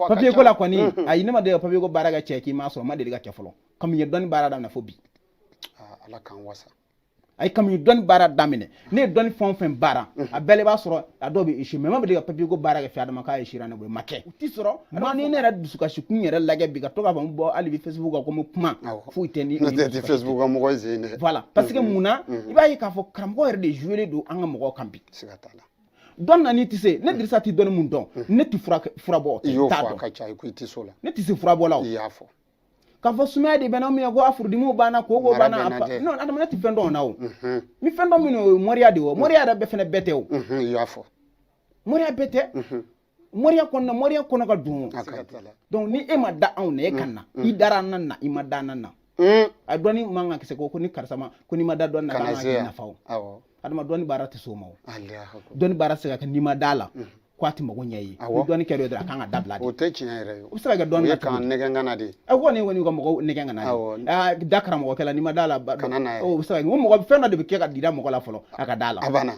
papier ko la kɔni mm-hmm. ayi ne ma deli ka papier ko baara kɛ cɛ k'i ma sɔrɔ ma deli k'a kɛ fɔlɔ kabini n ye dɔnni baara daminɛ fo bi ah, ala k'an wasa a ye kabini n ye dɔnni baara daminɛ ne ye dɔnni fɛn o fɛn baara mm-hmm. a bɛɛ la i b'a sɔrɔ a dɔw bɛ esi mais n ma deli ka papier ko baara kɛ fɛ adama k'a esira ne bolo ma kɛ u ti sɔrɔ ma ni ne yɛrɛ dusukasi kun yɛrɛ lajɛ bi ka to k'a fɔ n bɔ hali bi facebook kan ko n bɛ kuma foyi tɛ ni tɛ facebook kan mɔgɔ zen dɛ voilà parce que mm-hmm. mun na i b'a ye k'a fɔ karamɔgɔ yɛrɛ de jouer don an ka mɔgɔw kan bi siga t'a la dɔn na n'i tɛ se ne dirisa tɛ dɔnni min dɔn ne tɛ furabɔ i y'o fɔ a ka ca i ko i tɛ so la ne tɛ se furabɔ la i y'a fɔ k'a fɔ sumaya de bɛ n na min ye ko a furudimi banna koko banna non adama ne tɛ fɛn dɔn na o ni fɛn dɔn min o ye moriya de ye o moriya yɛrɛ bɛɛ fana bɛɛ tɛ o i y'a fɔ moriya bɛɛ tɛ moriya kɔnɔna moriya kɔnɔ ka dun donc ni e ma da anw na e ka na i dara an na na i ma da an nan na a dɔnni man ka kisɛ ko ko ni karisa ma ko n'i ma da dɔnni na k'an ka kɛ nafa o adama dɔnni baara tɛ s'o ma o dɔnni baara tɛ se ka kɛ n'i ma da a la ko a tɛ mago ɲɛ ye ni dɔnni kɛra dɔrɔn a kan ka dabila de o tɛ tiɲɛ yɛrɛ ye o bɛ se ka kɛ dɔnni na k'an nɛgɛn ka na de a ko ne kɔni ka mɔgɔw nɛgɛn ka na de da karamɔgɔkɛ la n'i ma da a la kana na o bɛ se ka kɛ o mɔgɔ fɛn dɔ de bɛ kɛ ka jira mɔgɔ la fɔlɔ a ka da a la a banna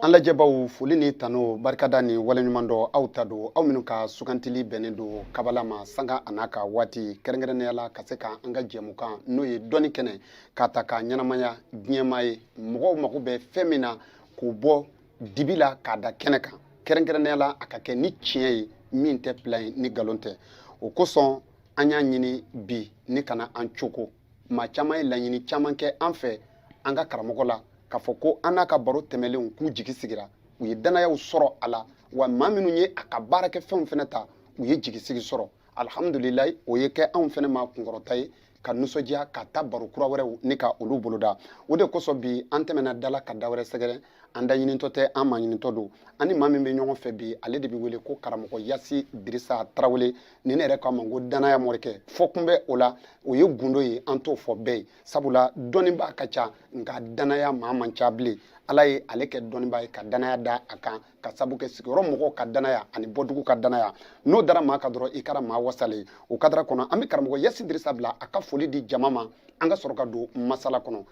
an lajɛbaw foli ni tanu barikada ni waleɲumandɔn aw ta don aw minnu ka sugantili bɛnnen don kabala ma sanga an'a ka waati kɛrɛnkɛrɛnnenya la ka se ka an ka jɛmukan n'o ye dɔnni kɛnɛ k'a ta ka ɲɛnamaya diɲɛmaa ye mɔgɔw mago bɛ fɛn min na k'o bɔ dibi la k'a da kɛnɛ kan kɛrɛnkɛrɛnnenya la a ka kɛ ni tiɲɛ ye min tɛ pilan ye ni nkalon tɛ o kosɔn an y'a ɲini bi ni ka na an cogo maa caman ye laɲini caman kɛ an fɛ an ka karamɔgɔ la k'a fɔ ko an n'a ka baro tɛmɛnlenw k'u jigi sigira u ye danayaw sɔrɔ a la wa maa minnu ye a ka baarakɛ fɛnw fana ta u ye jigisigi sɔrɔ alihamudulilayi o ye kɛ anw fana ma kunkɔrɔta ye ka nisɔndiya ka ta baro kura wɛrɛw ni ka olu boloda o de kosɔn bi an tɛmɛna da la ka da wɛrɛ sɛgɛrɛ an da ɲinitɔ tɛ an maa ɲinitɔ don an ni maa min bɛ ɲɔgɔn fɛ bi ale de bɛ wele ko karamɔgɔ yasi dirisa tarawele ni ne yɛrɛ k'a ma ko danaya morikɛ fɔkun bɛ o la o ye gundo ye an t'o fɔ bɛɛ ye sabula dɔnnibaa ka ca nka danaya maa man ca bilen ala ye ale kɛ dɔnnibaa ye ka danaya da a kan k'a sabu kɛ sigiyɔrɔ mɔgɔw ka danaya ani bɔdugu ka danaya n'o dara maa kan dɔrɔn i kɛra maa wasalen o kadara kɔnɔ an bɛ karamɔgɔ yasi dirisa bila a ka foli di jama ma an ka sɔrɔ ka don masala kɔnɔ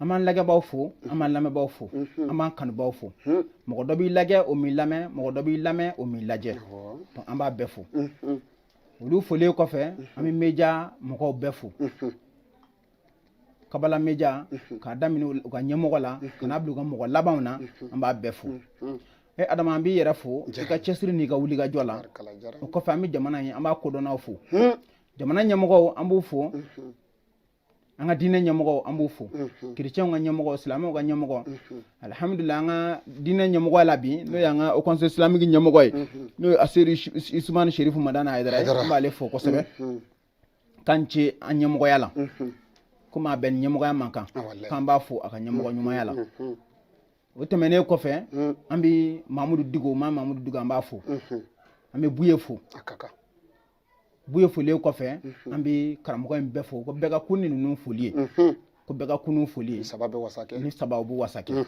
an b'an lajɛbaa fo an b'an lamɛnbaa fo an b'an kanubaa fo mɔgɔ dɔ b'i lajɛ o m'i lamɛn mɔgɔ dɔ b'i lamɛn o m'i lajɛ an b'a bɛɛ fo olu folilen kɔfɛ an bɛ média mɔgɔw bɛɛ fo kabala média k'a daminɛ u ka ɲɛmɔgɔ la k'a bila u ka mɔgɔ labanw na an b'a bɛɛ fo e adama an b'i yɛrɛ fo i ka cɛsiri n'i ka wulikajɔ la o kɔfɛ an bɛ jamana ye an b'a kodɔnw fo jamana ɲɛmɔgɔ an b'o fo an ka diinɛ ɲɛmɔgɔ an b'u fo kirecɛnw ka ɲɛmɔgɔ silamɛw ka ɲɛmɔgɔ alihamidulila an ka diinɛ ɲɛmɔgɔ la bi n'o y'an ka haut conseil islamique ɲɛmɔgɔ ye n'o ye aseri usumani serifu madani ayidara ye an b'ale fo kosɛbɛ k'a ni ce a ɲɛmɔgɔya la komi a bɛ ɲɛmɔgɔya min kan k'an b'a fo a ka ɲɛmɔgɔ ɲumanya la o tɛmɛnen kɔfɛ an bɛ mamudu diko ma mamudu diko an b'a fo an bɛ buye fo buye foli kɔfɛ an bɛ karamɔgɔ in bɛɛ fo ko bɛɛ ka kun ni ninnu foli ye ko bɛɛ ka kunun foli ye saba bɛ wasa kɛ nin saba bɛ wasa kɛ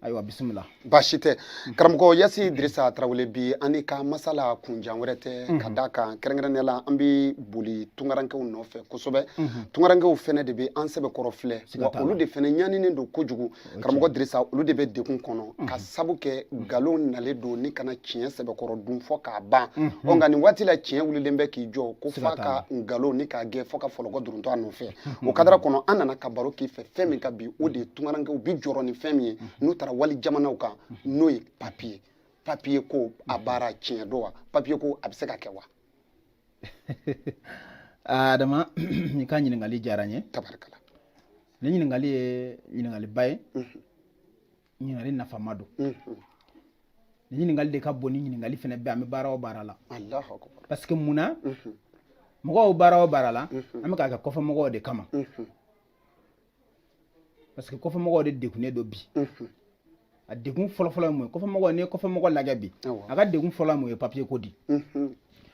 ayiwa bisimila baasi tɛ karamɔgɔ yasi dirisa tarawele bi an n'i ka masala kun jan wɛrɛ tɛ ka d'a kan kɛrɛnkɛrɛnnenya la an bɛ boli tungarankew nɔfɛ kosɛbɛ tungarankew fɛnɛ de bɛ an sɛbɛkɔrɔ filɛ wa olu de fɛnɛ ɲaninen don kojugu karamɔgɔ dirisa olu de bɛ degun kɔnɔ mhm. ka sabu kɛ mhm. nkalon nalen don nin ka na tiɲɛ sɛbɛkɔrɔ dun fo k'a ban mhm. ɔ nka nin waati la tiɲɛ wulilen bɛ k'i jɔ ko f'a ka nkalon nin k'a gɛn fo ka fɔlɔkɔ duruntɔ a nɔfɛ o kadara kɔnɔ an nana ka baro k'i fɛ fɛn min kan bi o de ye tungarankew bi jɔrɔ ni fɛn min ye n'u taara wali jamanaw kan n'o ye papiye papiye ko a baara tiɲɛ don wa papiye ko a bɛ se ka kɛ wa adama i ka ɲininkali diyara n ye tabarikala nin ɲininkali ye ɲininkaliba ye ɲininkali nafama don nin ɲininkali de ka bon nin ɲininkali fana bɛ an bɛ baara o baara la parce que mun na mɔgɔw baara o baara la an bɛ k'a kɛ kɔfɛ mɔgɔw de kama parce que kɔfɛ mɔgɔw de degunnen don bi a degun fɔlɔfɔlɔ ye mun ye kɔfɛmɔgɔ n'i ye kɔfɛmɔgɔ lajɛ bi a ka degun fɔlɔ ye mun ye papiye ko de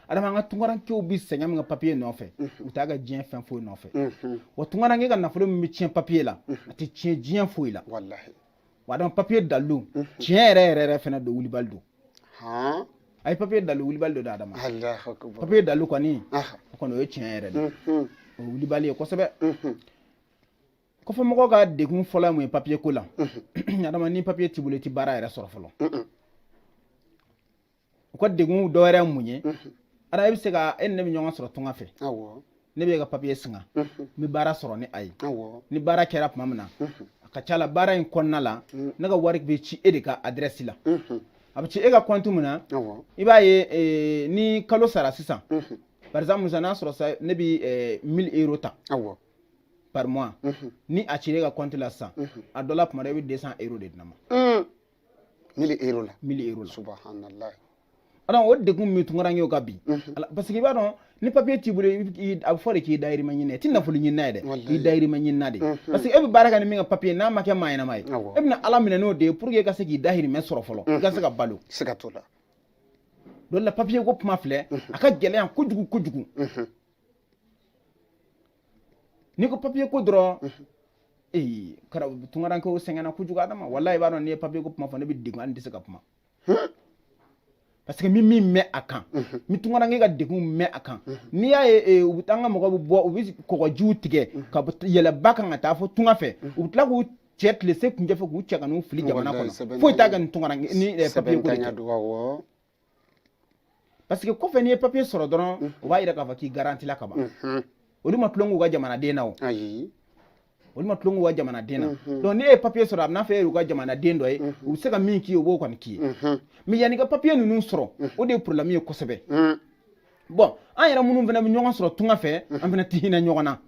adama an ka tungarankew bɛ sɛgɛn min kɛ papiye nɔfɛ u t'a kɛ diɲɛ fɛn foyi nɔfɛ wa tungaranke ka nafolo min bɛ tiɲɛ papiye la a tɛ tiɲɛ diɲɛ foyi la wa adama papiye dalilu tiɲɛ yɛrɛ yɛrɛ yɛrɛ fana don wulibali don a ye papiye dalilu wulibali don adama papiye dalilu kɔni o kɔni o ye tiɲɛ yɛrɛ de o ye wulibali ye kosɛbɛ kɔfɛ mɔgɔ ka degun fɔlɔ ye mun ye papiye ko la adama ni papiye t'i bolo i tɛ baara yɛrɛ sɔrɔ fɔlɔ u ka degun dɔ wɛrɛ mun ye ara e bɛ se ka e ni ne bɛ ɲɔgɔn sɔrɔ tunga fɛ ne b'e ka papiye singa n bɛ baara sɔrɔ ni a ye ni baara kɛra tuma min na a ka ca la baara in kɔnɔna la ne ka wari bɛ ci e de ka adirɛsi la a bɛ ci e ka kɔntu min na i b'a ye eh, ni kalo sara sisan par exemple n'a sɔrɔ sa ne bɛ 1000 eh, euro ta par mois mhm. ni a cir'e ka compte la sisan mhm. a dɔ la kuma dɔ i bɛ 200 euro de di ne ma. Mm. mille euro la. mille euro la. subahanallahi. ala o degun min tungarankew kan bi. Mhm. parce que i b'a dɔn ni papier t'i bolo a bɛ fɔ de k'i dayirimɛ ɲini i tɛ nafolo ɲinina ye dɛ i dayirimɛ ɲinina de parce que e bɛ baara kɛ ni min ka papier n'a ma kɛ maa ɲɛnama ye e bɛna ala minɛ n'o de ye pour que i ka se k'i dayirimɛ sɔrɔ fɔlɔ i ka se ka balo. siga t'o la. dɔ la papier ko kuma filɛ a ka gɛlɛn kojugu kojugu. n'i ko papiye ko dɔrɔn ee kara tunkarankew sɛgɛnna kojugu adama walayi i b'a dɔn n'i ye papiye ko kuma fɔ ne bɛ degun hali n tɛ se ka kuma parce que min min mɛn a kan ni tunkaranke ka degun mɛn a kan n'i y'a ye u bɛ taa an ka mɔgɔ bɛ bɔ u bɛ kɔgɔjiw tigɛ ka yɛlɛ ba kan ka taa fo tunga fɛ u bɛ tila k'u cɛ tilesekuncɛ fɛ k'u cɛ ka n'u fili jamana kɔnɔ foyi t'a kɛ ni tunkaranke ni papiye ko de tɛ parce que kɔfɛ n'i ye papier sɔrɔ dɔrɔn mm. o b'a yira k'a fɔ k'i garantila ka ban mm-hmm. olu ma tulon k'u ka jamanaden na o olu ma tulon k'u ka jamanaden na mm-hmm. donc n'e ye papier sɔrɔ a bɛna fɔ e y'u ka jamanaden dɔ ye mm-hmm. u bɛ se ka min k'i ye u b'o kɔni k'i ye mais yann'i ka papier ninnu sɔrɔ mm. o de ye problème ye kosɛbɛ mm. bon an yɛrɛ minnu fana bɛ ɲɔgɔn sɔrɔ tunga fɛ an fana tɛ hinɛ ɲɔgɔn na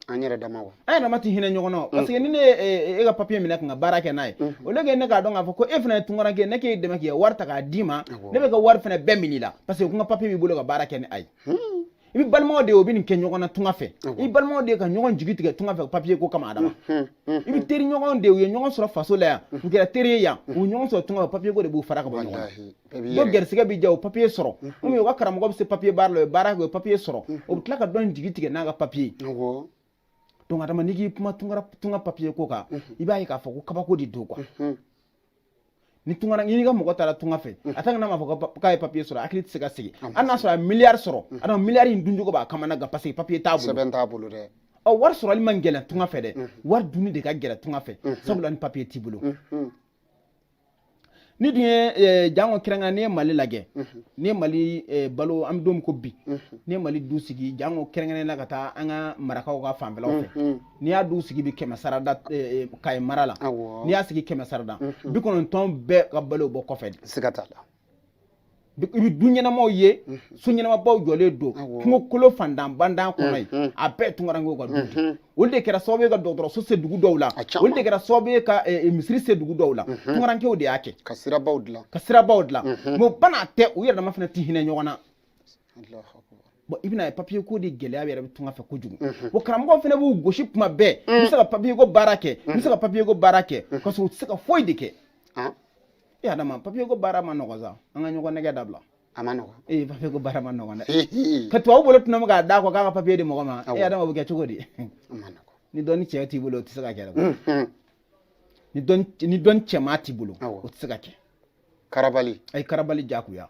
an yɛrɛ dama wa an yɛrɛ dama tɛ hinɛ ɲɔgɔn na mm. parce que ni ne ye e ka papiye minɛ ka n ka baara kɛ n'a ye mm-hmm. o ne k'a dɔn k'a fɔ ko e fana ye tunkaranke ne k'e dɛmɛ k'i ka wari ta k'a d'i ma ne b'e ka wari fana bɛɛ minɛ i la parce que ko n ka papiye b'i bolo ka baara kɛ ni a ye hmm. i bɛ balimaw de ye u bɛ nin kɛ ɲɔgɔn na tunga fɛ i balimaw de ye ka ɲɔgɔn jigi tigɛ tunga fɛ papiye ko kama adama hmm, hmm, i bɛ teri ɲɔgɔn de ye u ye ɲɔgɔn sɔrɔ faso la yan u kɛra teri ye yan u ɲɔgɔn sɔrɔ tunga fɛ papiye ko de b'u fara ka bɔ ɲɔgɔn na dɔ garisigɛ bɛ diya o papiye sɔrɔ komi u ka karamɔgɔ bɛ se papiye baara la o ye baara kɛ o ye papiye sɔrɔ o bɛ tila ka dɔ in jigi tigɛ n'a ka papiye donc adama n'i k'i kuma tunga papiye ko kan i b'a ye k'a fɔ ko kabako de don quoi ni tungara n'i ka mɔgɔ taara tunga fɛ a tant que n'a m'a fɔ k'a ye papiye sɔrɔ hakili tɛ se ka sigi hali n'a sɔrɔ a ye miliyari sɔrɔ adama miliyari in duncogo b'a kamana gan paseke papiye t'a bolo sɛbɛn t'a bolo dɛ ɔ wari sɔrɔli man gɛlɛn tunga fɛ dɛ wari dunni de ka gɛlɛn tunga fɛ sabula ni papiye t'i bolo n'i dun ye eh, jango kɛrɛnkɛrɛn n'i ye mali lajɛ mhm. n'i ye mali eh, balo an bɛ don min ko bi mhm. n'i ye mali du sigi jango kɛrɛnkɛrɛnnenya la ka taa an ka marakaw ka fanfɛlaw fɛ mhm. n'i y'a du sigi bi kɛmɛ sarada eh, kaye mara la n'i y'a sigi kɛmɛ sarada bi kɔnɔntɔn bɛɛ ka balo bɔ kɔfɛ de siga t'a la i bɛ du ɲɛnamaw ye so ɲɛnamabaw jɔlen don kungokolon fantan bantan kɔnɔ yen a bɛɛ tunkarankew ka du olu de kɛra sababu ye ka dɔgɔtɔrɔso se dugu dɔw la olu de kɛra sababu ye ka misiri se dugu dɔw la tunkarankew de y'a kɛ ka sirabaw dilan ka sirabaw dilan mais bana tɛ u yɛrɛ dama fana tɛ hinɛ ɲɔgɔn na i bɛn'a ye papiye ko de gɛlɛya yɛrɛ bɛ tunga fɛ kojugu o karamɔgɔ fana b'u gosi tuma bɛɛ n bɛ se ka papiye ko baara kɛ n bɛ se ka papiye ko baara kɛ ka sɔrɔ u tɛ se ka foyi de kɛ e adama papiye ko baara ma nɔgɔ sa an ka ɲɔgɔn nɛgɛn dabila a ma nɔgɔ ee papiye ko baara ma nɔgɔ dɛ ka tubabu bolo fila minɛ k'a d'a kɔ k'a ka papiye di mɔgɔ ma e adama bɛ kɛ cogo di ni dɔnni cɛ t'i bolo o tɛ se ka kɛ dɛ ni dɔnni cɛman t'i bolo o tɛ se ka kɛ karabali a ye karabali jagoya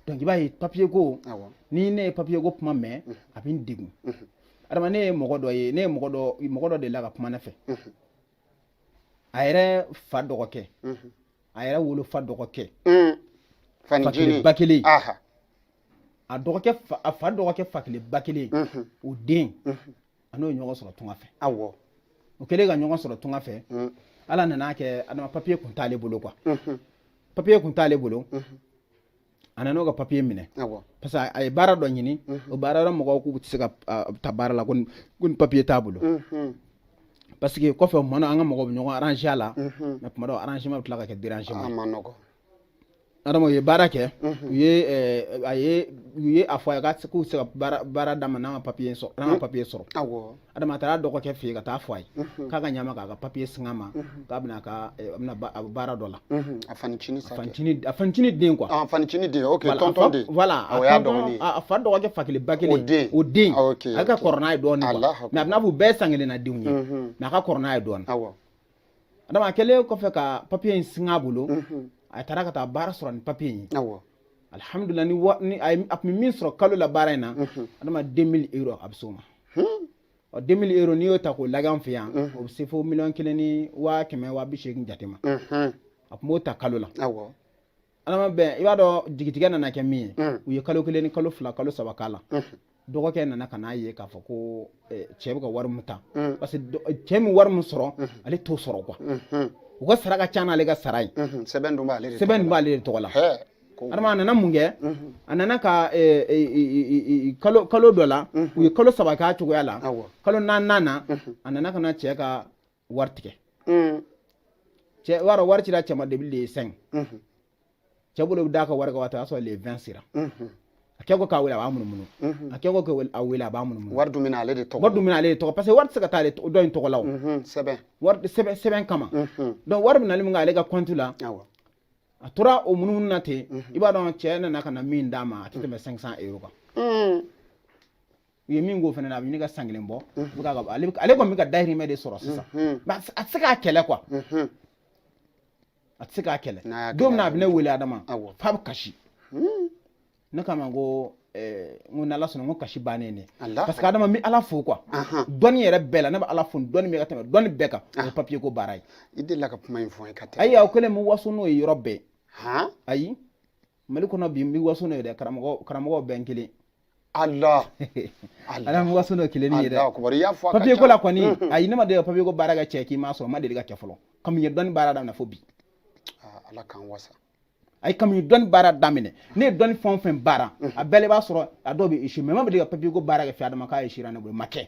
donc i b'a ye papiye ko ni ne ye papiye ko kuma mɛn a bɛ n degun adama ne ye mɔgɔ dɔ ye ne ye mɔgɔ dɔ mɔgɔ dɔ delila ka kuma ne fɛ a yɛrɛ fa dɔgɔkɛ a yɛrɛ wolo fa dɔgɔkɛ fa kelen ba kelen a dɔgɔkɛ a fa dɔgɔkɛ fa kelen ba kelen o den a n'o ye ɲɔgɔn sɔrɔ tunga fɛ awɔ o kɛlen ka ɲɔgɔn sɔrɔ tunga fɛ ala nan'a kɛ adama papiye kun t'ale bolo quoi papiye kun t'ale bolo a nan'o ka papiye minɛ parce que a ye baara dɔ ɲini o baara dɔ mɔgɔw k'u tɛ se k'a ta baara la ko ni papiye t'a bolo parce que kɔfɛ o mana an ka mɔgɔw bɛ ɲɔgɔn aranze a la mais tuma dɔw arrangement bɛ tila ka kɛ dérangement adama u ye baara kɛ u ye a fɔ a k'u se ka baara d'a ma n'a ma papiye sɔrɔ n'a ma papiye sɔrɔ adama a taara dɔgɔkɛ fɛ yen ka taa a fɔ a ye k'a ka ɲ'a ma k'a ka papiye singa a ma k'a bɛna ka eh, a bɛna ba- a bɛ baara dɔ la a fanincinin sa kɛ. fancinin a fancinin den quoi Ah, a fanincinin den ok Voilà, tɔntɔn a fa- den voilà a o y'a tɔntɔn- dɔgɔnin ye. a a fa dɔgɔkɛ fa kelen ba kelen O den. o den Ah, ok, a ka ok. kɔrɔ n'a ye dɔɔnin Alahu quoi mais a b'i n'a fɔ u bɛɛ ye san kelen na denw ye Mhm. mais a ka kɔrɔ n'a ye dɔɔnin awɔ Adama a kɛlen kɔfɛ ka papier in singa a bolo, unhun, a taara ka taa baara sɔrɔ ni papier in ye, awɔ, alihamudulila ni wa ni a ye a tun bɛ min sɔrɔ kalo la baara in na, unhun, Adama 2000 euros a bɛ se o ma, hun, ɔ 2000 euros n'i y'o ta k'o lagɛ an fɛ yan, unhun, o bɛ se fo miliyɔn kelen ni waa kɛmɛ waa bi seegin jate ma, unhun, a tun b'o ta kalo la, awɔ. adama bon i b'a dɔn jigitigɛ nana kɛ min ye mm. u ye kalo kelen ni kalo fila kalo saba k'a la mm. dɔgɔkɛ nana ka n'a ye k'a fɔ ko eh, cɛ bɛ ka wari min ta mm. parce que eh, cɛ bɛ wari min sɔrɔ ale t'o sɔrɔ quoi mm-hmm. u ka sara ka ca n'ale ka sara ye mm-hmm. sɛbɛn dun b'ale de sɛbɛn dun b'ale de tɔgɔ la adama a nana mun kɛ mm-hmm. a nana ka eh, kalo kalo dɔ la u ye kalo saba k'a cogoya la kalo naaninan na a nana ka na cɛ ka wari tigɛ mm. cɛ wari wari cira cɛ ma depuis le 5 mm-hmm. cɛ bolo bɛ d'a ka wari kan waati o y'a sɔrɔ le 20 sera mm-hmm. a kɛ ko k'a wele a b'a munumunu mm-hmm. a kɛ ko k'a wele a b'a munumunu wari dun bɛ na ale de tɔgɔ wari dun bɛ na ale de tɔgɔ parce que wari tɛ se ka taa ale dɔ in tɔgɔ la o sɛbɛn wari sɛbɛn sɛbɛn kama donc wari bɛ nali min kɛ ale ka kɔnti la a tora o munumunu na ten i b'a dɔn cɛ nana ka na min d'a ma a tɛ tɛmɛ 500 euro kan u ye min k'o fana na a bɛ ɲini ka san kelen bɔ ale kɔni bɛ ka dayirimɛ de sɔrɔ sisan a tɛ se k'a kɛlɛ quoi a tɛ se k'a kɛlɛ don min na a bɛ ne wele adama f'a bɛ kasi ne k'a ma ko Eh, n ko n'ala sɔnna n ko kasi bannen ne parce que adama n bɛ ala fo quoi dɔnni yɛrɛ bɛɛ la ne bɛ ala fo dɔnni bɛ ka tɛmɛ dɔnni bɛɛ kan o ye papiye ko baara ye i delila ka kuma in fɔ n ye ka tɛmɛ ayi aw kɛlen bɛ waso n'o ye yɔrɔ bɛɛ ayi mali kɔnɔ bi n bɛ waso n'o ye dɛ karamɔgɔ karamɔgɔ bɛɛ n kelen Allah ala mɔgɔ sɔn dɔ kelen ye dɛ papiye ko la kɔni mm-hmm. ayi ne ma deli ka papiye ko baara kɛ cɛ k'i ma sɔrɔ a ma deli ka kɛ fɔlɔ kami n ye dɔnni baara daminɛ fo bi ah, ala k'an wasa ayi kami n ye dɔnni baara daminɛ ne ye dɔnni fɛn o fɛn baara mm-hmm. a bɛɛ b'a sɔrɔ a dɔw bɛ échoué mais n ma deli ka papiye ko baara kɛ fɛ adama k'a échouéra ne bolo a ma kɛ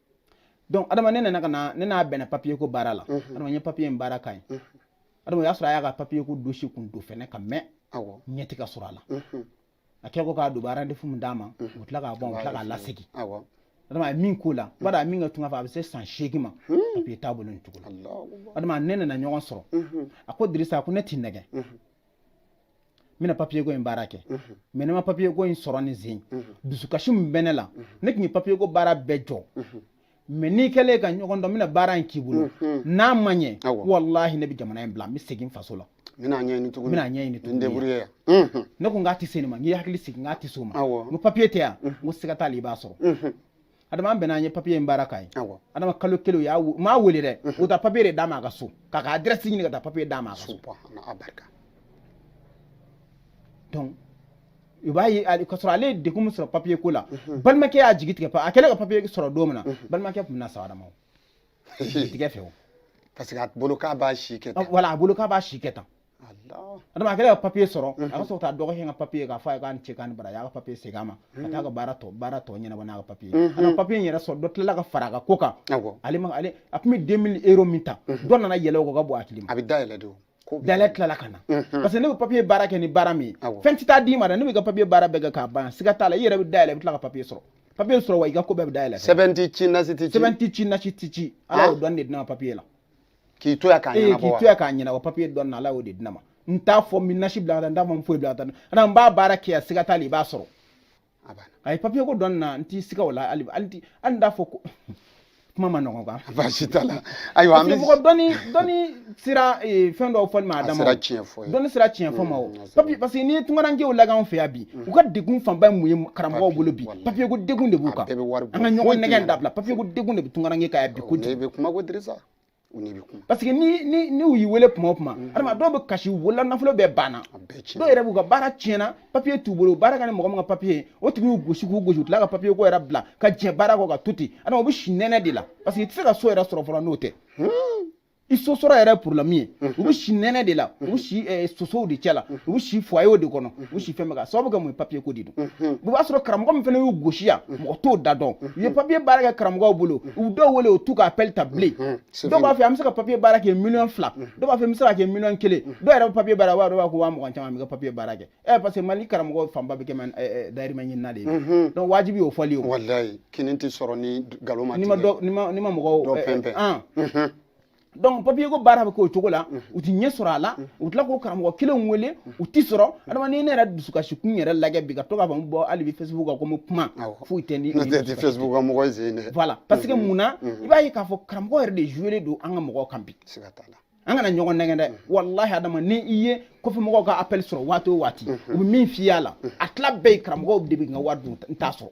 donc adama ne nana ka na ne n'a bɛnna papiye ko baara la mhm. adama n ye papiye in baara ka ɲɛ mhm. adama o y'a sɔrɔ a y'a ka papiye ko dosiye kun don fɛnɛ ka mɛn ɲɛti ka sɔrɔ a la mhm. a kɛ ko k'a don baara refus min d'a ma o tila k'a bɔn o tila k'a lasegin adama a ye min k'o la b'a dɔn a min ka tunga fɛ a bɛ se san seegin ma hmm. papiye t'a bolo nin cogo la adama ne nana ɲɔgɔn sɔrɔ a ko dirisa a ko ne t'i nɛgɛn n bɛna papiyeko in baara kɛ mɛ ne ma papiyeko in sɔrɔ nin sen dusukasi min bɛ ne la ne tun ye papiyeko baara bɛɛ jɔ mɛ n'i kɛlen ka ɲɔgɔn dɔn n bɛna baara in k'i bolo n'a ma ɲɛ walahi ne bɛ jamana in bila n bɛ segin faso la bɛna ɲɛɲini tuguni bɛna ɲɛɲini tuguni deburuye yan ne ko n k'a tɛ se nin ma n k'i hakili sigi n k'a tɛ se o ma n ko papiye tɛ yan n ko siga t'a la i b'a sɔrɔ adama bɛnna an ye papiye in baara k'a ye adama kalo kelen u m'a wele dɛ u taara papiye de d'a ma a ka so k'a ka adrɛsi ɲini ka taa papiye d'a ma a ka so donc i b'a ye k'a sɔrɔ ale ye degun min sɔrɔ papiye ko la balimakɛ y'a jigi tigɛ a kɛlen ka papiye sɔrɔ don min na balimakɛ tun bɛna sa adama o tigɛ fɛ o parce que a bolo k'a b'a si kɛ tan wala a bolo k'a b'a si kɛ tan adama kɛra ka papiye sɔrɔ a ka sɔrɔ ka dɔgɔkɛ ka papiye k'a fɔ a ye k'a ni ce k'a ni baraji a y'a ka papiye segin a ma ka taa ka baara tɔ baara tɔ ɲɛnabɔ n'a ka papiye a ka papiye in yɛrɛ sɔrɔ dɔ tilala ka fara a ka ko kan ale ma ale a tun bɛ deux mille euro min ta dɔ nana yɛlɛ o ka bɔ a hakili ma a bɛ dayɛlɛ de dayɛlɛ tilala ka na parce que ne bɛ papiye baara kɛ ni baara min ye fɛn tɛ taa d'i ma dɛ ne bɛ ka papiye baara bɛɛ kɛ k'a ban siga t'a la i yɛrɛ bɛ dayɛlɛ i bɛ tila ka papiye sɔrɔ papiye sɔrɔ wa i ka ko bɛɛ bɛ dayɛlɛ sɛbɛn tɛ ci nasi tɛ ci sɛbɛn tɛ ci nasi tɛ ci ala y'o dɔn de di n ma papiye la k'i to yan k'a ɲɛnabɔ wa k'i to yan k'a ɲɛnabɔ papiye dɔn na ala y'o de di ne ma n t'a fɔ n bɛ nasi bila ka taa n t'a fɔ n foyi bila ka taa ala n b'a baara kɛ yan siga t'a la i b'a sɔrɔ a ye papiye ko dɔn na n t'i siga o la hali hali n t'a fɔ ko kuma ma ɲɔgɔn kan baasi t'a la ayiwa an bɛ mɔgɔ dɔnni dɔnni sira eh, fɛn dɔw fɔli ma a dama dɔnni sira tiɲɛ fɔ ma o mm, papiye parce que n'i ye tunkarankew lagan fɛ yan bi mm. u ka degun fanba ye mun ye karamɔgɔw bolo bi papiye ko degun de b'u kan an ka ɲɔgɔn nɛgɛn dabila papiye ko degun de bɛ tunkaranke kan yan bi kojugu parce que ni ni ni u y'i wele kuma o kuma adama dɔw bɛ kasi u bolo la nafolo bɛɛ banna dɔw yɛrɛ b'u ka baara tiɲɛna papiye t'u bolo baara kɛ ni mɔgɔ min ka papiye o tigi y'u gosi k'u gosi u tila ka papiye ko yɛrɛ bila ka jɛn baara kɔ ka to ten adama u bɛ si nɛnɛ de la parce que i tɛ se ka so yɛrɛ sɔrɔ fɔlɔ n'o tɛ i so sɔrɔ yɛrɛ porobilɛmu ye u bɛ si nɛnɛ de la u bɛ si sosow de cɛ la u bɛ si fwayew de kɔnɔ u si fɛn bɛɛ ka sababu kɛ mun ye papiye ko de don o b'a sɔrɔ karamɔgɔ min fana y'u gosi yan mɔgɔ t'o da dɔn u ye papiye baara kɛ karamɔgɔw bolo u dɔw wele u t'u ka appel ta bilen dɔw b'a fɔ an bɛ se ka papiye baara kɛ miliyɔn fila dɔw b'a fɔ n bɛ se ka kɛ miliyɔn kelen dɔw yɛrɛ bɛ papiye baara wa dɔw b'a kɛ waa mugan caman bɛ ka papiye baara kɛ ɛ parce que mali karamɔgɔ fanba bɛ kɛ dayirimɛ ɲinina de ye donc wajibi y'o fɔli ye walayi kini tɛ sɔrɔ ni nkalon ma tigɛ n'i ma mɔgɔw donc papier ko baara bɛ k'o cogo la u ti ɲɛ sɔrɔ a la u tila k'o karamɔgɔ kelen wele u ti sɔrɔ adama ni ne yɛrɛ dusukasi kun yɛrɛ lajɛ bi ka to k'a fɔ n bɔ hali bi facebook kan ko n bɛ kuma foyi tɛ ni facebook ka mɔgɔ sen dɛ voilà parce que mun na i b'a ye k'a fɔ karamɔgɔ yɛrɛ de jouer don an ka mɔgɔw kan bi siga t'a la an kana ɲɔgɔn nɛgɛn dɛ walahi adama ni i ye kɔfɛmɔgɔw ka appel sɔrɔ waati o waati u bɛ min f'i y'a la a tila bɛɛ ye karamɔgɔw de bɛ n ka wari dun n t'a sɔrɔ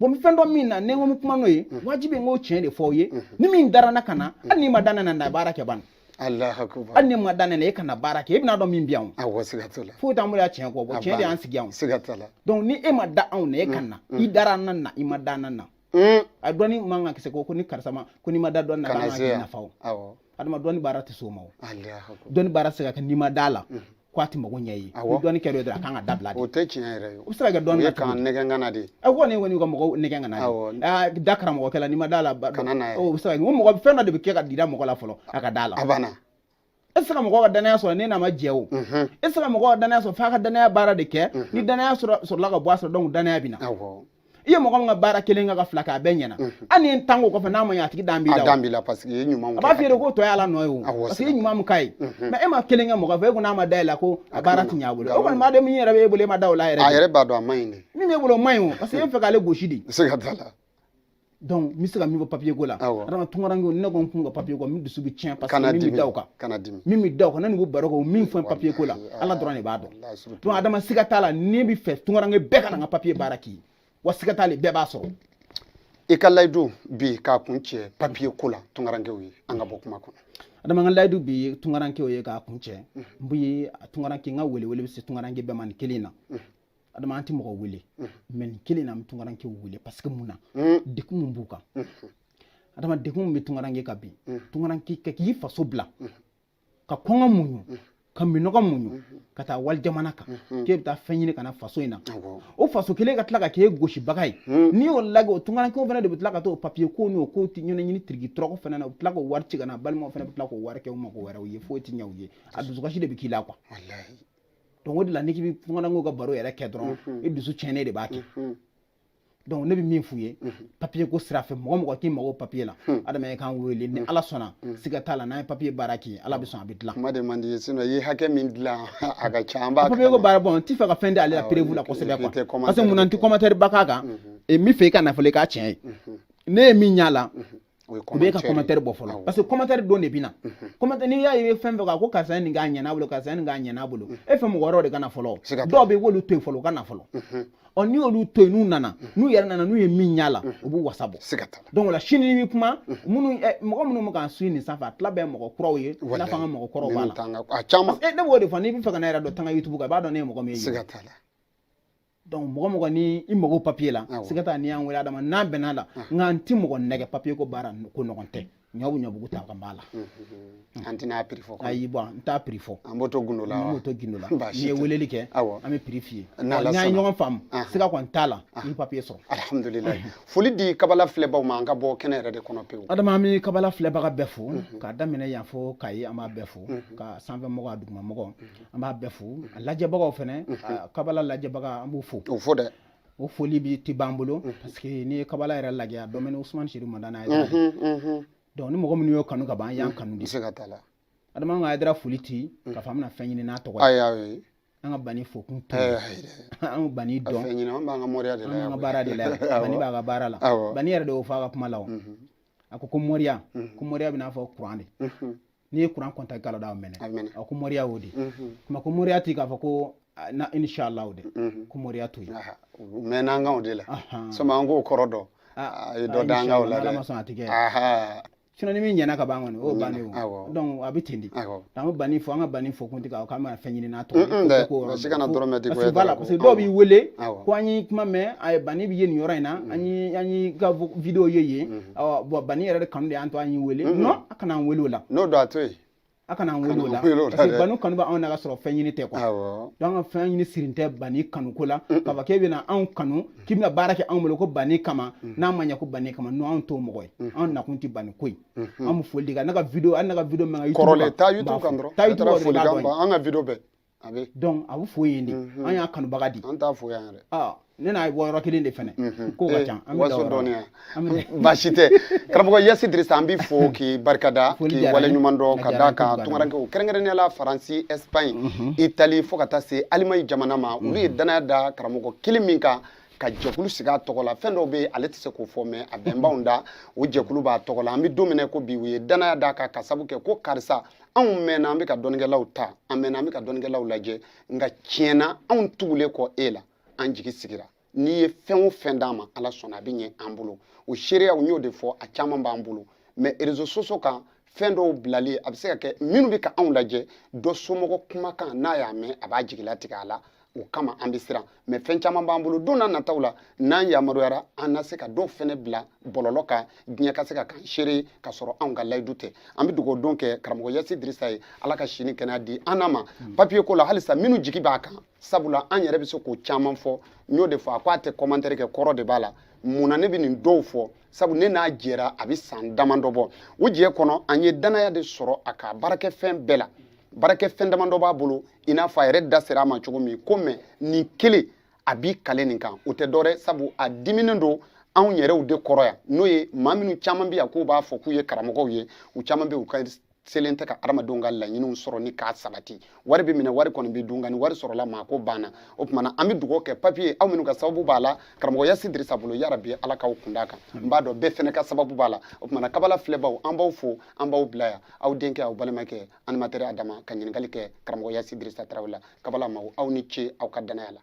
bon n bɛ fɛn dɔn min na ni n ko n bɛ kuma n'o ye wajibi n k'o tiɲɛ de fɔ aw ye ni min dara n na ka na hali n'i ma da ne na na baara kɛ ban hali n'i ma da ne na e ka na baara kɛ e bɛna dɔn min bɛ yan o foyi t'an bolo yan tiɲɛ kɔ bon tiɲɛ de y'an sigi yan o donc ni e ma da anw na e ka na i dara an na na i ma da an na na a dɔnni man kan ka kɛ ko ko ni karisa ma ko n'i ma da dɔnni na k'an ka k'i nafa o adama dɔnni baara tɛ s'o ma o dɔnni baara tɛ se ka kɛ n'i ma d'a la ko a tɛ mago ɲɛ ye ni dɔnni kɛra dɔrɔn a kan ka dabila de o tɛ tiɲɛ yɛrɛ ye o bɛ se ka kɛ dɔnni na kan nɛgɛn kana de a ko ne kɔni ka mɔgɔw nɛgɛn kana de da karamɔgɔ kɛla n'i ma d'a la kana na o bɛ se ka kɛ o mɔgɔ fɛn dɔ de bɛ kɛ ka jira mɔgɔ la fɔlɔ a ka d'a la a banna e tɛ se ka mɔgɔ ka danaya sɔrɔ ne n'a ma jɛ o e tɛ se ka mɔgɔ ka danaya sɔrɔ f'a ka danaya baara de kɛ ni danaya sɔrɔla ka ban a sɔrɔ danaya bɛ na i ye mɔgɔ min ka baara kelen kɛ ka fila kɛ a bɛɛ ɲɛna hali ni n tan ko kɔfɛ n'a ma ɲɛ a tigi dalen b'i la a dalen b'i la parce que i ye ɲuman a b'a f'i ye k'o tɔ ye ala nɔ ye o parce que i ye ɲuman min k'a ye mɛ e ma kelen kɛ mɔgɔ fɛ e ko n'a ma da e la ko a baara ti ɲɛ a bolo o kɔni b'a dɔn min yɛrɛ b'e bolo e ma da o la yɛrɛ a yɛrɛ b'a dɔn a man ɲi de min b'e bolo o man ɲi o parce que e fɛ k'ale gosi de se ka d'a la donc n bɛ se ka min fɔ papier ko la adama tunkarankew ne ko n kun ka papier ko min dusu bɛ tiɲɛ parce que min bɛ da o kan min bɛ da o kan ne n'u baro kɛ o min fɔ papier ko la ala dɔrɔn de b'a dɔn donc adama siga t'a la ne b'a fɛ tunkaranke bɛɛ ka na n ka papier baara kɛ wa siga t'a la bɛɛ b'a sɔrɔ i ka layidu bi k'a kuncɛ papier ko la tunkarankew ye an ka bɔ kuma kɔnɔ adama n ka layidu bi ye tunkarankew ye k'a kuncɛ n bɛ tunkaranke n ka welewele bɛ se tunkaranke bɛɛ ma nin kelen na adama an tɛ mɔgɔ wele mɛ nin kelen na an bɛ tunkaranke wele parce que mun na degun min b'u kan adama degun min bɛ tunkaranke kan bi tunkaranke ka k'i faso bila ka kɔngɔ muɲu ka minɔgɔ muɲu ka taa wali jamana kan k'e bɛ taa fɛn ɲini ka na faso in na o faso kelen ka tila ka k'e gosibaga ye n'i y'o lajɛ o tunkarankew fana de bɛ tila ka taa o papiye ko n'o kow de ɲɛɲini tiriki tɔrɔkɔ fana na u bɛ tila k'o wari ci ka na balimaw fana bɛ tila k'o wari kɛ u mago wɛrɛw ye foyi tɛ ɲɛ u ye a dusukasi de bɛ k'i la quoi donc o de la n'i k'i bɛ tunkaranke ka baro yɛrɛ kɛ dɔrɔn i dusu tiɲɛnen de b'a kɛ donc ne bɛ min f'u ye papiye ko sira fɛ mɔgɔ o mɔgɔ k'i mago papiye la adamaden k'an wele ni ala sɔnna siga t'a la n'an ye papiye baara k'i ye ala bɛ sɔn a bɛ dilan kuma de man di ye sinon i ye hakɛ min dilan a ka ca an b'a papiye ko baara bon n t'i fɛ ka fɛn di ale la perewu la kosɛbɛ quoi parce que mun na n tɛ commentaire ba k'a kan n b'a fɛ i ka na fɔlɔ i k'a tiɲɛ ye ne ye min y'a la u bɛ ka commentaire bɔ fɔlɔ parce que commentaire dɔw de bɛ na commentaire n'i y'a ye fɛn o fɛn kan ko karisa ye nin k'a ɲɛna bolo karisa ye nin k'a ɲɛna bolo e fɛ mɔgɔ wɛrɛw de ka na fɔlɔ dɔw bɛ w'olu to yen fɔlɔ u ka na fɔlɔ ɔ n'i y'olu to yen n'u nana n'u yɛrɛ nana n'u ye min y'a la u b'u wasa bɔ donc o la sini ni kuma minnu mɔgɔ minnu bɛ k'an su nin sanfɛ a tila bɛɛ mɔgɔ kuraw ye i n'a fɔ an ka mɔgɔ kɔrɔw b'a la ne b'o de fɔ n'i bɛ fɛ ka ne yɛrɛ dɔn taga youtube kan i b'a dɔn ne ye mɔgɔ min ye donc mɔgɔ o mɔgɔ ni i mago papiye la siga t'a la n'i y'an wele adama n'an bɛn'a la nka n ti mɔgɔ nɛgɛn papiye ko baara ko nɔgɔn tɛ ɲɔ bɛ ɲɔbugu ta ka b'a la an tɛna a prix fɔ ayi bɔn n t'a prix fɔ an b'o to gundo la an b'o to gundo la n'i ye weleli kɛ an bɛ prix f'i ye n'an ye ɲɔgɔn faamu siga kɔni t'a la i bɛ papiye sɔrɔ alihamudulilayi foli di kabala filɛbaw ma an ka bɔ kɛnɛ yɛrɛ de kɔnɔ pewu adama an bɛ kabala filɛbaga bɛɛ fo k'a daminɛ yan fo kayi an b'a bɛɛ fo a sanfɛmɔgɔ a dugumamɔgɔ an b'a bɛɛ fo a lajɛbagaw fana kabala lajɛbaga an b'u fo o fo dɛ o foli bi ti ban an bolo parce que n'i ye kabala yɛrɛ lajɛ a dɔmɛni usumani serifu madani ye donc ni mɔgɔ minnu y'o kanu ka ban an y'an kanu de se ka t'a la adama ka yɛrɛ foli ti ka fɔ an bɛna fɛn ɲini n'a tɔgɔ ye ayi an ka bani fo kun tɛ an bani dɔn fɛn ɲini an b'an ka moriya de la an ka baara de la bani b'a ka baara la bani yɛrɛ de y'o fɔ a ka kuma la o a ko ko moriya ko moriya bɛ i n'a fɔ kuran de n'i ye kuran kɔnta galo da a mɛnɛ a ko moriya y'o de kuma ko moriya ti k'a fɔ ko na inshallah o de ko moriya to yen u mɛnna an kan o de la sɔmi an k'o kɔrɔ dɔn a ye dɔ da an kan o la dɛ ala ma sɔn a ti kɛ sinon ni min ɲɛna ka ban kɔni o bannen o donc a bɛ ten di an bɛ bani fo an ka bani fo kun tɛ k'a k'an bɛna fɛn ɲini n'a tɔgɔ ye ko yɔrɔ si kana dɔrɔmɛ di parce que voilà parce que dɔw b'i wele ko an ye kuma mɛn a ye bani bɛ ye nin yɔrɔ in na an ye an ye ka video ye yen awɔ bon bani yɛrɛ de kanu de y'an to an y'i wele non a kana an wele o la n'o don a to yen a kana an wele o la kana an wele o la parce que dɛ. bani kanu bɛ anw na ka sɔrɔ fɛn ɲini tɛ quoi awɔ donc an ka fɛn ɲini sirin tɛ bani kanu ko la k'a fɔ k'e bɛna anw kanu k'i bɛna baara kɛ anw bolo ko bani kama n'a ma ɲɛ ko bani kama non anw t'o mɔgɔ ye anw nakun tɛ bani ko ye an bɛ foli de kɛ ne ka video hali ne ka video mɛn ka YouTube kɔrɔlen kan, taa n ka youtube kan fo. dɔrɔn taa YouTube kan dɔrɔn i b'a folikan dɔn ban an ka video bɛɛ a bɛ donc a bɛ fo yen de mhm. an y'a kanubaga de an t'a fo yan yɛrɛ ah, ne n'a bɔ yɔrɔ kelen de fɛnɛ mhm. ko ka eh, ca an bɛ waso dɔɔni yan baasi tɛ karamɔgɔ yasi dirisa an b'i fo k'i barikada k'i wale ɲuman dɔn ka da kan tunkarankew kɛrɛnkɛrɛnnenya la faransi espagne mhm. itali fo ka taa se alimaɲi jamana ma olu ye danaya da karamɔgɔ kelen min kan ka jɛkulu sigi a tɔgɔ la fɛn dɔw bɛ yen ale tɛ se k'o fɔ mais a bɛnbaw da o jɛkulu b'a tɔgɔ la an bɛ don min na ko bi u ye danaya d'a kan ka sabu kɛ ko karisa anw mɛnna an bɛ ka dɔnnikɛlaw ta an mɛnna an bɛ ka dɔnnikɛlaw lajɛ nka tiɲɛ na anw tugulen kɔ e la an jigi sigira n'i ye fɛn o fɛn d'an ma ala sɔnna a bɛ ɲɛ an bolo o seereyaw n y'o de fɔ a caman b'an bolo mais réseaux sociaux kan fɛn dɔw bilali a bɛ se ka kɛ minnu bɛ ka anw lajɛ dɔ somɔgɔ kumakan n'a y'a mɛn a b'a jigilatigɛ a la o kama an bɛ siran mɛ fɛn caman b'an bolo don nataw la n'an yamaruyara an na se ka dɔ fɛnɛ bila bɔlɔlɔ kan diɲɛ ka se ka kan seere ka sɔrɔ anw ka layidu tɛ an bɛ dugawu don kɛ karamɔgɔ yasi dirisa ye ala ka si ni kɛnɛya di an n'a ma hmm. papiye ko la halisa minnu jigi b'a kan sabula an yɛrɛ bɛ se k'o caman fɔ n y'o de fɔ a ko a tɛ kɔmantɛri kɛ kɔrɔ de b'a la mun na ne bɛ nin dɔw fɔ sabu ne n'a jɛra a bɛ san damadɔ bɔ o jɛ kɔnɔ an ye danaya de sɔrɔ a ka baarakɛfɛn bɛɛ la baarakɛfɛn damadɔ b'a bolo i n'a fɔ a yɛrɛ da sera a ma cogo min ko mɛ nin kelen a b'i kale nin kan o tɛ dɔwɛrɛ sabu a diminen don anw yɛrɛw de kɔrɔ yan n'o ye maa minnu caman bɛ yan k'u b'a fɔ k'u ye karamɔgɔw ye u caman bɛ u ka selen tɛ ka adamadenw ka laɲiniw sɔrɔ nin k'a sabati wari bɛ minɛ wari kɔni bɛ dun nka ni wari sɔrɔla maa ko banna o tuma na an bɛ dugawu kɛ papiye aw minnu ka sababu b'a la karamɔgɔ yasi dirisa bolo yarabi ala k'aw kunda kan n b'a dɔn bɛɛ fana ka sababu b'a la o tuma na kabala filɛbaw an b'aw fo an b'aw bila yan aw denkɛ aw balimakɛ animatɛri adama ka ɲininkali kɛ karamɔgɔ yasi dirisa tarawele la kabala mago aw ni ce aw ka danaya la